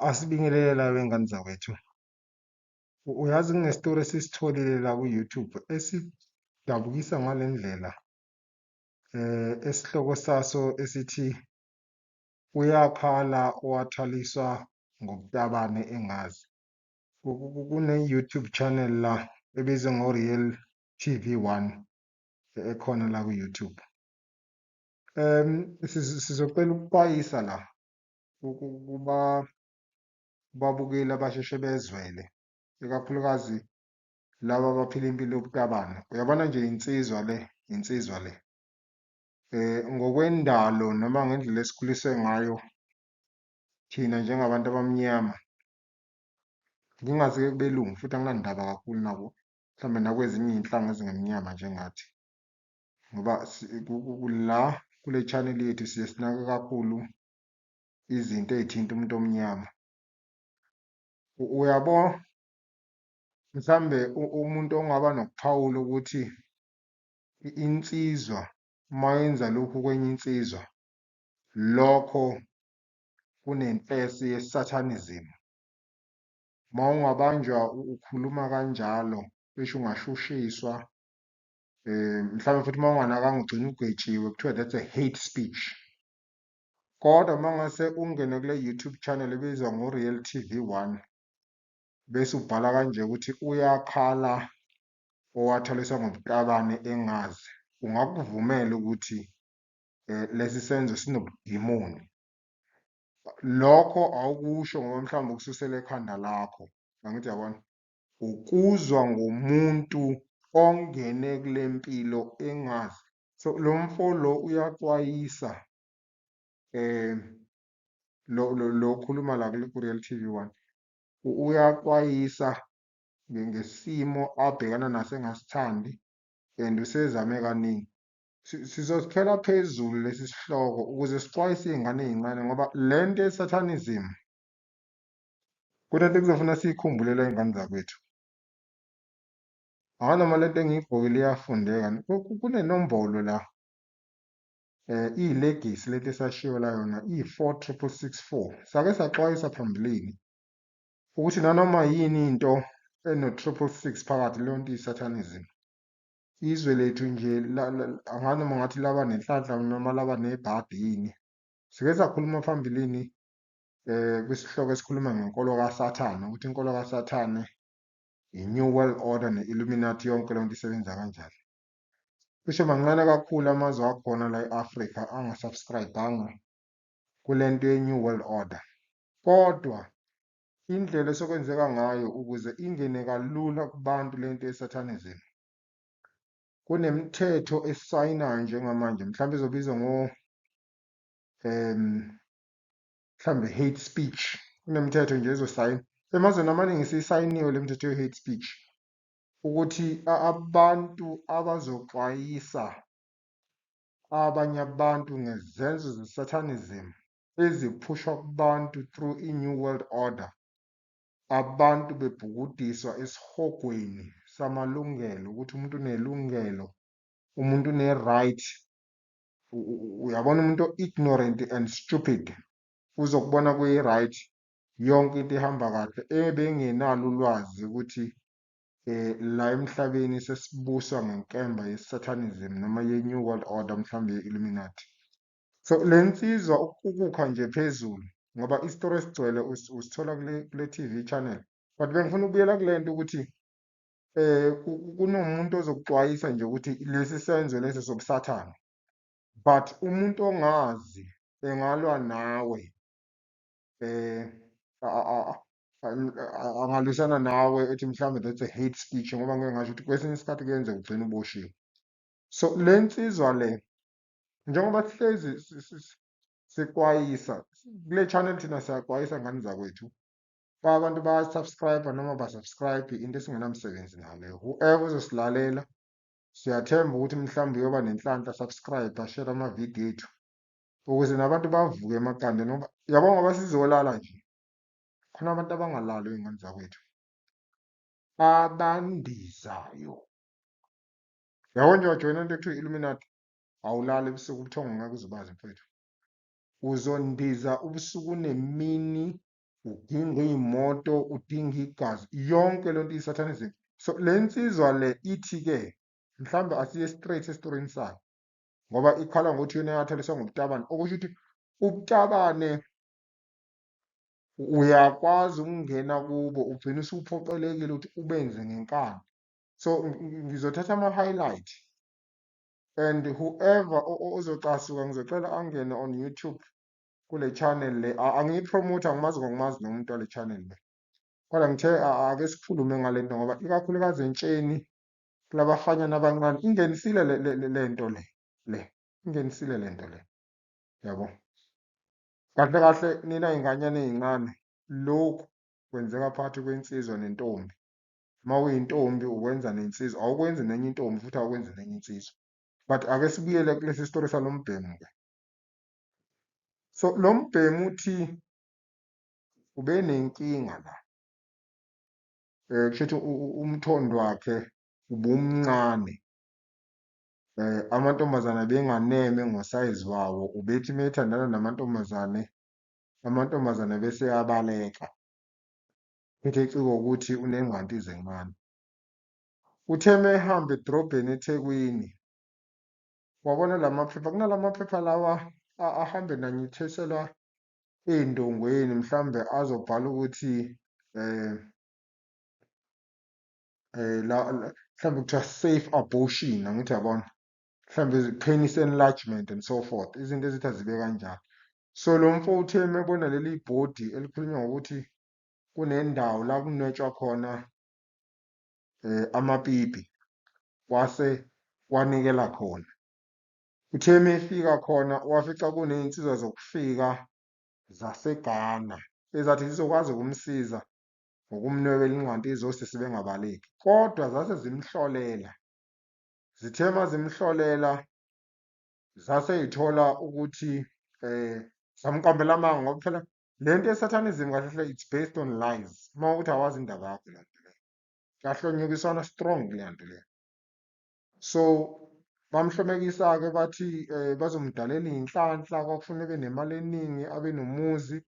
Asibingelele la wengane zakwethu. U- Uyazi kunestori esisitholile la ku-YouTube esidabukisa ngale ndlela eh esihloko saso esithi uyakhala owathaliswa ngobutabane engazi. Ku- ku- ku- Kune-YouTube channel la ebizwa ngo-Real TV One e- ekhona la ku-YouTube. Em, siz- sizocela ukuxwayisa la uku- kuba babukeli abasheshe bezwele ikakhulukazi laba abaphila impilo yobutabane uyabona nje insizwa le insizwa le eh ngokwendalo noma ngendlela esikhuliswe ngayo thina njengabantu abamnyama ngingazi-ke kubelungu futhi anginandaba kakhulu nabo mhlawumbe nakwezinye iy'nhlanga ezingemnyama njengathi ngoba la kule channel yethu siye sinake kakhulu izinto ezithinta umuntu omnyama uyabo mhlambe umuntu ongaba nokuphawula ukuthi insizwa uma yenza lokhu kwenye insizwa lokho kunempesi yesatanism uma ungabanjwa ukhuluma kanjalo besho ungashushiswa Eh mhlawumbe futhi uma unganakanga ugcina ugwetshiwe kuthiwa that's a hate speech. Kodwa uma ngase ungene kule YouTube channel ebizwa ngo-Real TV One bese ubhala kanje ukuthi uyakhala owathaliswa ngobutabane engazi ungakuvumela ukuthi eh, lesi senzo sinobudimoni. Lokho awukusho ngoba mhlawumbe ukususela ekhanda lakho. Angithi yabona? Ukuzwa ngomuntu ongene kule mpilo engazi. So lo mfo lo uyaxwayisa lo lo okhuluma la kule Real TV one uyaxwayisa ngesimo abhekana naso engasithandi and usezame kaningi. Sizosithela phezulu lesi sihloko ukuze sixwayise iy'ngane ey'ncane ngoba le nto ye-Satanism Kuthathe kuzofuna siyikhumbule la ingane zakwethu. Hayi noma lento engiyigqokile iyafundeka ni? Ku- ku- kunenombolo la eh iyilegisi lento esashiwo la yona iyi-four triple six four sake saxwayisa phambilini ukuthi nanoma yini into eno-triple six phakathi leyo nto iyi-satanism izwe lethu nje la- la- anganoma ngathi laba nenhlanhla noma laba nebhadi yini sike sakhuluma phambilini eh kwisihloko esikhuluma ngenkolo kaSathane ukuthi inkolo kaSathane i-New World Order ne-Illuminati yonke lento isebenza kanjani. Cishe mancane kakhulu amazwe akhona la e-Afrika angasubscribanga kule nto ye-New World Order. Kodwa indlela esekwenzeka ngayo ukuze ingene kalula kubantu le nto ye-Satanism, kunemithetho esayinayo njengamanje, mhlawumbe izobizwa ngo um mhlawumbe hate speech kunemithetho nje ezosayina emazweni amaningi siyisayiniwe le mithetho ye-hate speech ukuthi abantu abazoxwayisa abanye abantu ngezenzo ze-satanism eziphushwa kubantu through i-new world order abantu bebhukudiswa esihogweni samalungelo ukuthi umuntu unelungelo umuntu une-right uyabona umuntu ignorant and stupid uzokubona kuyi right yonke into ihamba kahle ebengenalo ulwazi ukuthi eh la emhlabeni sesibuswa ngenkemba yesatanism noma ye new world order mhlawumbe ye illuminati so lensizwa ukukha nje phezulu ngoba isitori esigcwele usithola kule kule TV channel but bengifuna ukubuyela kulento ukuthi eh kunomuntu ozokuxwayisa nje ukuthi lesi senzo lesi sobusathane but umuntu ongazi engalwa nawe eh angalwisana nawe ethi mhlawumbe that's a hate speech ngoba ngeke ngasho ukuthi kwesinye isikhathi kuyenze ugcine uboshiwe so le nsizwa le njengoba sihlezi sikwayisa kule channel thina siyakwayisa ngani zakwethu Fa abantu ba subscribe noma ba subscribe into esingenamsebenzi nale. Whoever uzosilalela siyathemba ukuthi mhlawumbe uyoba nenhlanhla subscribe share ama video ethu ukuze nabantu bavuke emaqanda noma yabo ngoba sizolala nje. Khona abantu abangalali ingane zakwethu. Abandizayo. Yabo nje wajoyina into ekuthiwa Illuminati awulali ebusuku ubuthongo ngeke uzubazi mfethu. Uzondiza ubusuku nemini udinga iy'moto udinga igazi yonke lento isathane izinto so le nsizwa le ithi-ke mhlawumbe asiye straight esitorini sayo ngoba ikhala ngokuthi yona yathaliswa ngobutabane okusho ukuthi ubutabane uyakwazi ukungena kubo ugcine usuphoqelekile ukuthi ubenze ngenkani so ngizothatha ama-highlight and whoever ozocasuka ngizocela angene on youtube kule channel le angiyipromote angimazi ngokumazi nomuntu wale channel le kodwa ngithe ake sikhulume ngale nto ngoba ikakhulukazi entsheni kulabafanyana abancane ingenisile le nto le le ingenisile le nto le yabo kahle kahle nina inganyana ezincane lokhu kwenzeka phakathi kwensizwa nentombi uma uyintombi ukwenza nensizwa awukwenzi nenye intombi futhi awukwenzi nenye insizwa but ake sibuyele kulesi story salombhemu ke so lo mbhemu uthi ube nenkinga la um kusho ukuthi umthondo wakhe ubumncane um amantombazane benganeme ngosayizi wawo ubethi uma ethandana namantombazane amantombazane bese abaleka phethe eciko ukuthi unengqanti izencane uthe uma ehamba edrobheni ethekwini Wabona la maphepha, kunala maphepha lawa ahambe nanyitheselwa ey'ndongweni mhlawumbe azobhala ukuthi um um la mhlawumbe kuthiwa safe abortion angithi yabona mhlawumbe penis enlargement and so forth izinto ezithi azibe kanjalo so lo mfo uthe mebona leli bhodi elikhulunywa ngokuthi kunendawo la kunwetshwa khona eh, amapipi wase wanikela khona. Uthe uma efika khona wafica kuney'nsizwa zokufika zaseGhana ezathi zizokwazi ukumsiza ngokumnwebela ingqanti izosisi bengabaleki kodwa zase zimhlolela. Zithe uma zimhlolela zase y'thola ukuthi um zamqambela amanga ngoba phela Le nto ye-satanism kahle hle it's based on lies. Uma ukuthi awazi indaba yakho le nto leyo. Kuyahlonyukiswana strong kuleya nto leyo. So bamhlomekisa-ke bathi um bazomdalela iy'nhlanhla kwakufuneka ebe nemali eningi abe nomuzi.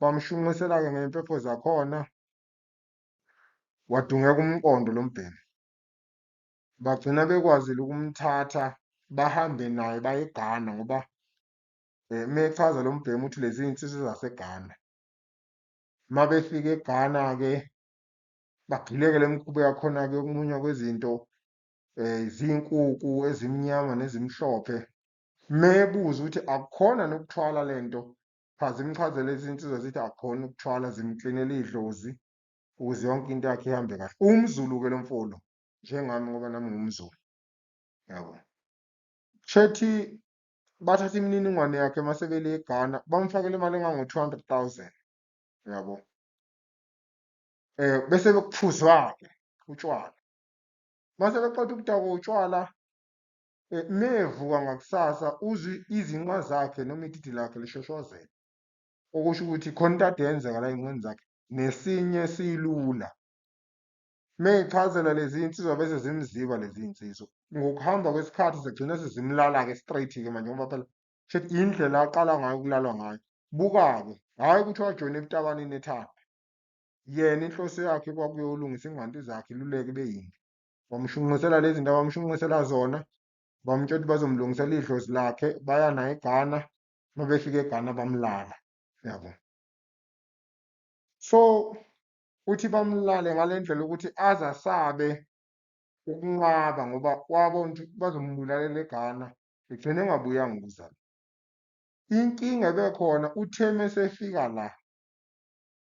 Bamshunqisela-ke ngey'mpepho zakhona. Wadungeka umqondo lo mbhemu. Bagcina bekwazile ukumthatha bahambe naye baye eGhana ngoba Eh, uma echaza lo mbhemu ukuthi lezi iy'nsizwa zaseGhana uma befika eGhana-ke bagileke le mikhuba yakhona-ke yokumunywa kwezinto um eh, zinkukhu ezimnyama nezimhlophe mebuza ukuthi akukhona nokuthwala le nto chaza imchazele izinsizwa zithi akukhona ukuthwala zimklinela idlozi ukuze yonke into yakhe ihambe kahle umzulu-ke lo mfolo njengami ngoba nami ngumzulu yabo chethi bathatha imininingwane yakhe uma sebele eGhana, bamfakela imali engango-two hundred thousand, uyabo. Um bese bekuphuzwa-ke utshwala. Uma sebeqeda ukudakwa utshwala, um mevuka ngakusasa uzwe izinqa zakhe noma ididi lakhe lishoshozela. Okusho ukuthi khona into ade yenzeka la ey'nqeni zakhe, nesinye silula. Meyichazela lezi insizwa bese zimziba lezi insizwa. Ngokuhamba kwesikhathi zagcina sezimlala-ke straight-ke manje ngoba phela shuthi indlela aqala ngayo ukulalwa ngayo. Buka-ke, hhayi ukuthi wajoyina ebutakanini ethanda. Yena inhloso yakhe kwakuyolungisa ingqanti zakhe iluleke ibe yimbi. Bamushunqisela lezi zinto abamushunqisela zona, bamutshela ukuthi bazomlungisela idlozi lakhe, baya naye eGhana, uma befika eGhana bamlala, yabo. So, Uthi bamlale ngale ndlela ukuthi aze asabe ukunqaba ngoba wabona ukuthi bazombulalela eGhana, egcine engabuyanga ukuzalwa. Inkinga ebekhona uthe mesefika la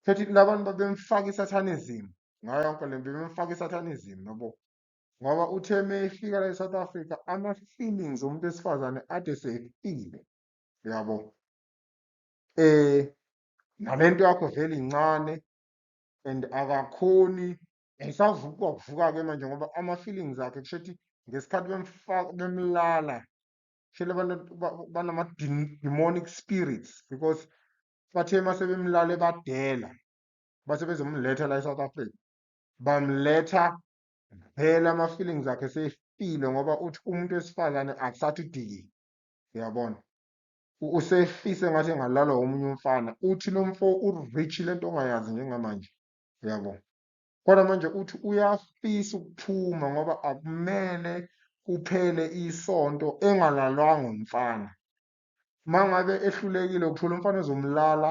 sethi labantu babemfaka i-satanism ngayo yonke le nto bebemfaka i-satanism yabo ngoba uthe mefika la e-South Africa ama-feelings omuntu wesifazane ade sefile yabo um nalento yakho vele incane and akakhoni ngisavuka ukuvuka ke manje ngoba ama feelings akhe kusho ukuthi ngesikhathi bemfaka bemlala shele banama demonic spirits because bathe mase bemlale badela base bezomletha la eSouth Africa bamletha vele ama feelings akhe sefile ngoba uthi umuntu wesifazane akusathi diki uyabona usehlise ngathi engalalwa omunye umfana uthi lo mfo urich le nto ongayazi njengamanje uyabo kodwa manje uthi uyafisa ukuphuma ngoba akumele kuphele isonto engalalwanga umfana uma ngabe ehlulekile ukuthola umfana ozomlala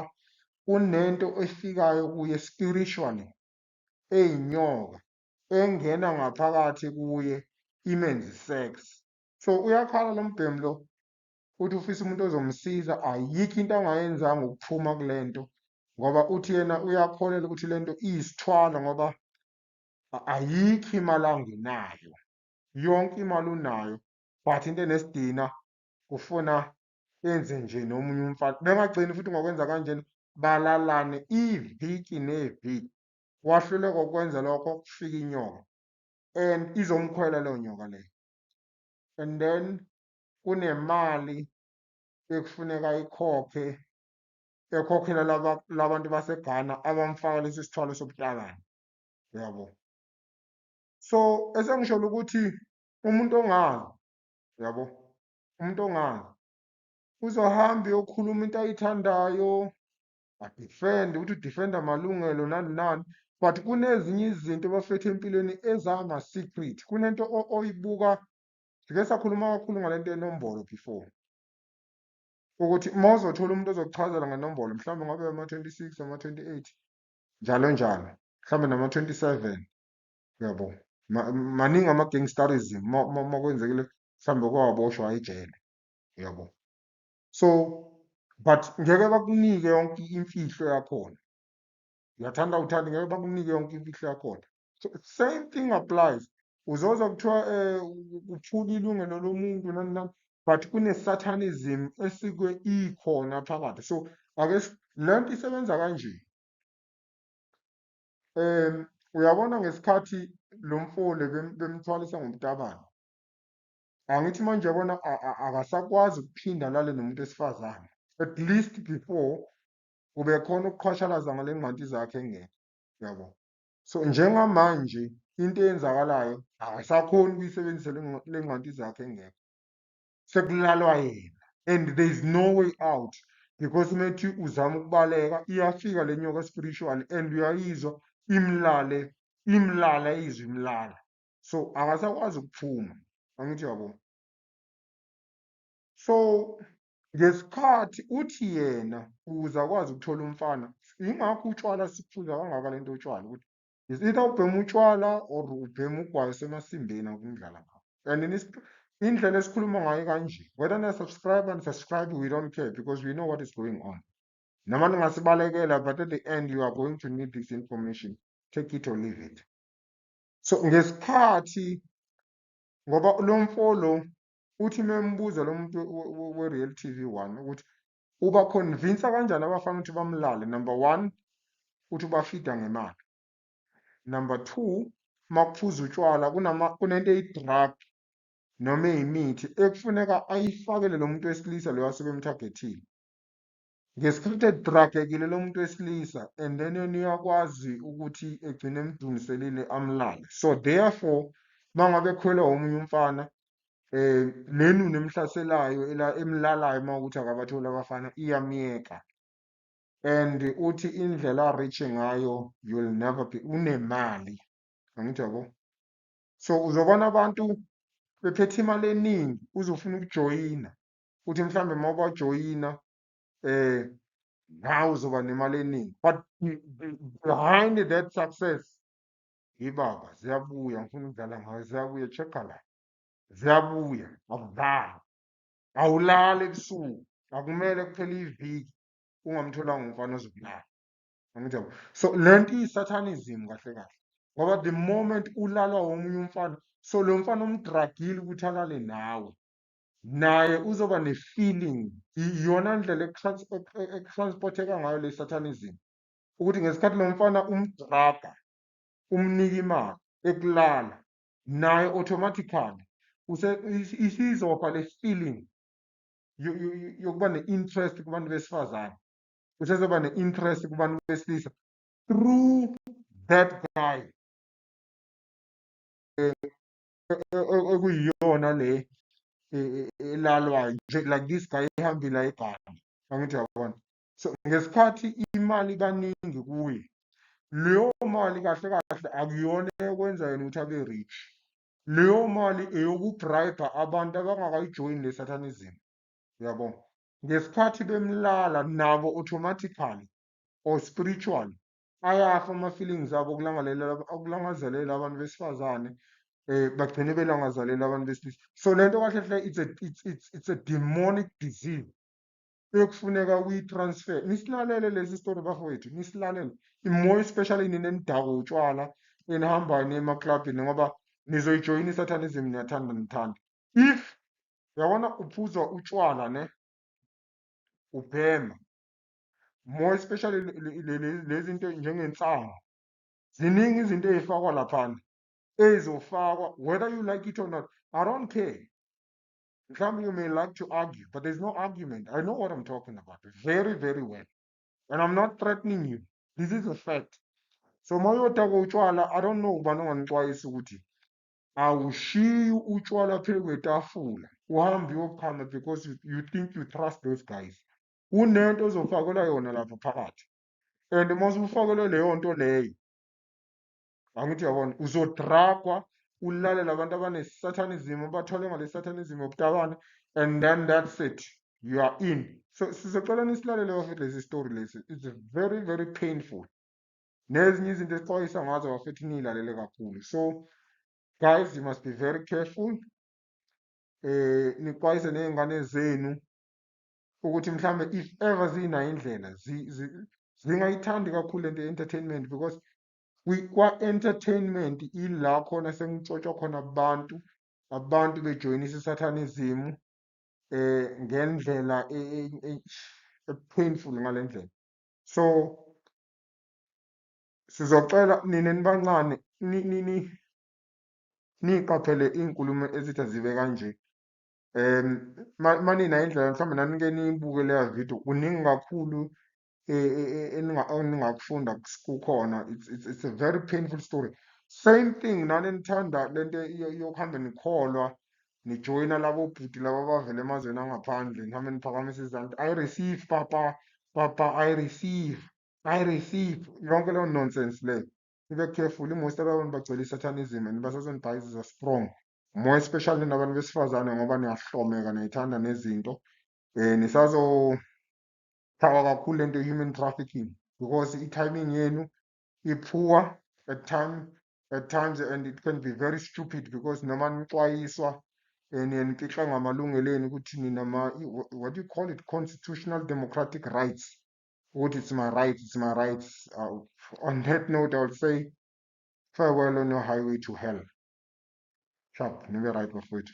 kunento efikayo kuye spiritually eyinyoka engena ngaphakathi kuye imenzi sex so uyakhala lo mbhemu lo uthi ufisa umuntu ozomsiza ayikho into angayenzanga ukuphuma kule nto ngoba uthi yena uyakholelwa ukuthi le nto iyisithwalo ngoba ayikho imali angenayo yonke imali unayo but into enesidina ufuna enze nje nomunye umfana bengagcini futhi ngokwenza kanjena balalane iviki neviki wahluleka ukwenza lokho kufika inyoka and izomkhwela leyo nyoka leyo and then kunemali ekufuneka ikhokhe ekhokhela laba labantu baseGhana abamfaka lesi sithwalo sobuhlakani yabo so esengisholo ukuthi umuntu ongazi yabo umuntu ongazi uzohamba uyokhuluma into ayithandayo adefend ukuthi udefenda amalungelo nani nani but kunezinye izinto bafethu empilweni ezama-secret kunento oyibuka sike sakhuluma kakhulu ngale nto yenombolo before ukuthi uma uzothola umuntu ozokuchazela ngenombolo mhlawumbe ngabe ama-twenty six ama-twenty-eight njalo njalo mhlawumbe nama-twenty-seven uyabo maningi ama-gangsterism uma kwenzekile mhlawumbe kwawaboshwa ejele uyabo so but ngeke bakunike yonke imfihlo yakhona uyathanda uthanda ngeke bakunike yonke imfihlo yakhona so same thing applies uzozwa kuthiwa um kuphula ilungelo lomuntu nani nani but kune-satanism esike ikhona phakathi so ake le nto isebenza kanje um uyabona ngesikhathi lo mfole bemthwalisa ngomtabane angithi manje yabona akasakwazi ukuphinda lale nomuntu esifazane at least before kube khona ukuqhwashalaza ngale ngqanti zakhe engekho yabo So njengamanje into eyenzakalayo akasakhoni ukuyisebenzisa le ngqanti zakhe engekho. Sekulalwa yena and there is no way out because uma ethi uzama ukubaleka iyafika le nyoka spiritual and uyayizwa imlale imlala izwi imlala. So akasakwazi ukuphuma angithi uyabo. So Ngesikhathi uthi yena ukuze akwazi ukuthola umfana, yingakho utshwala siphuza kangaka le nto utshwala ukuthi is either ubhema utshwala or ubhema ugwayi usemasimbeni akungidlala ngakho. And then isp- indlela esikhuluma ngayo kanje whether niya-subscribe unsubscribe we don't care because we know what is going on. Noma ningasibalekela but at the end you are going to need this information. Take it or leave it. So ngesikhathi ngoba lo mfo lo Uthi membuza lo muntu we-Real TV 1 ukuthi uba convince kanjani abafana ukuthi bamlale number 1 uthi ubafida ngemali. Number 2 makuphuza utshwala kunama kunento eyi-drug noma eyimithi ekufuneka ayifakele lo muntu wesilisa loyo asuke emthargethile. Nge-scripted drug ekile lomuntu wesilisa and then yena uyakwazi ukuthi egcine emdungiselile amlale. So therefore mangabe ekhwelwa omunye umfana eh nenunu emhlaselayo ela emlalayo mawukuthi akabatholi abafana iyamyeka. And uthi indlela rich ngayo you'll never be unemali. Angithi yabo. So uzobona abantu bephethe imali eningi uzofuna ukujoyina. uthi mhlawumbe uma ubajoyina eh nawe uzoba nemali eningi but behind that success yibaba ziyabuya ngifuna ukudlala ngayo ziyabuya check-a la ziyabuya akudlali awulali ebusuku akumele kuphele iviki ungamtholanga umfana ozokulala angijabo so le nto iyisathanism kahle kahle ngoba the moment ulalwa womunye umfana so lo mfana umdragile ukuthi alale nawe naye uzoba ne-feeling iyona ndlela ekutransporteka ngayo le satanism ukuthi ngesikhathi lo mfana umdraga umnika imali ekulala naye automatically isizofa le feeling yokuba ne-interest kubantu besifazane usezoba ne-interest kubantu besilisa through that guy okuyiyona le e, e, elalwayo nje like this guy ihambile ibhanga angithi yabona so ngesikhathi imali kaningi kuye leyo mali kahle kahle akuyona eyokwenza yena ukuthi abe rich leyo mali eyokubribe abantu abangakayijoyini le satanism yabo ngesikhathi bemlala nabo automatically or spiritually ayafa ama-feelings abo okulangazelela okulangazelela abantu besifazane eh bagcine belangazelela abantu besilisa so le nto kahle hle it's a it's it's it's a demonic disease ekufuneka uyi-transfer nisilalele lesi story bafowethu nisilalele imoya especially nina enidako utshwala enihambayo niyemaklabhini ngoba nizoyijoyina isatanism niyathanda nithanda if yabona uphuzwa utshwala ne ubhema more especially lezinto njengensangu ziningi izinto ezifakwa laphana ezofakwa whether you like it or not i don't care mhlawumbe you may like to argue but there's no argument i know what i'm talking about very very well and i'm not threatening you this is a fact so uma uyodaka utshwala i don't know ubani onganixwayisa ukuthi awushiyi utshwala phezu kwetafula uhambe uyochama because you, you think you trust those guys kunento ozofakelwa yona lapha phakathi and uma usufakelwe leyo nto leyo angithi uyabona uzodragwa ulalele abantu abanesatanism abathole ngale satanism yobutabane and then that's it you are in so sizocela nisilalele bafethu lesi story lesi it's very very painful nezinye izinto esixwayisa ngazo bafethu niyilalele kakhulu so guys you must be very careful eh nixwayise nezingane zenu ukuthi mhlawumbe if ever zinayo indlela zingayithandi kakhulu lento ye-entertainment because kwa-entertainment ila khona sengitshotshwa khona abantu abantu bejoyinisa isathanism eh ngendlela epainful ngale ndlela so sizocela nina nibancane niqaphele iy'nkulumo ezithi azibe kanje um manina indlela mhlawumbe nanike niyibuke leya video kuningi kakhulu e, e, e, eningakufunda kukhona it's a very painful story same thing nani nithanda le nto yokuhambe nikholwa nijoyina labo bhuti laba abavela emazweni angaphandle nihambe niphakamisa izandla i receive papa papa i receive i receive yonke leyo nonsense leyo nibe careful imost abantu bagcwele isatanism and basazonibhayiziza strong more especially nabantu besifazane ngoba niyahlomeka niyayithanda nezinto um nisazochawa kakhulu lento human trafficking because i-timing yenu i-poor at time at times and it can be very stupid because noma nixwayiswa um niye nifihle ngamalungelo enu ukuthi ninama what do you call it constitutional democratic rights ukuthi it's my rights it's my rights uh, on that note i will say farewell on your highway to hell Sharp, nibe right bafowethu.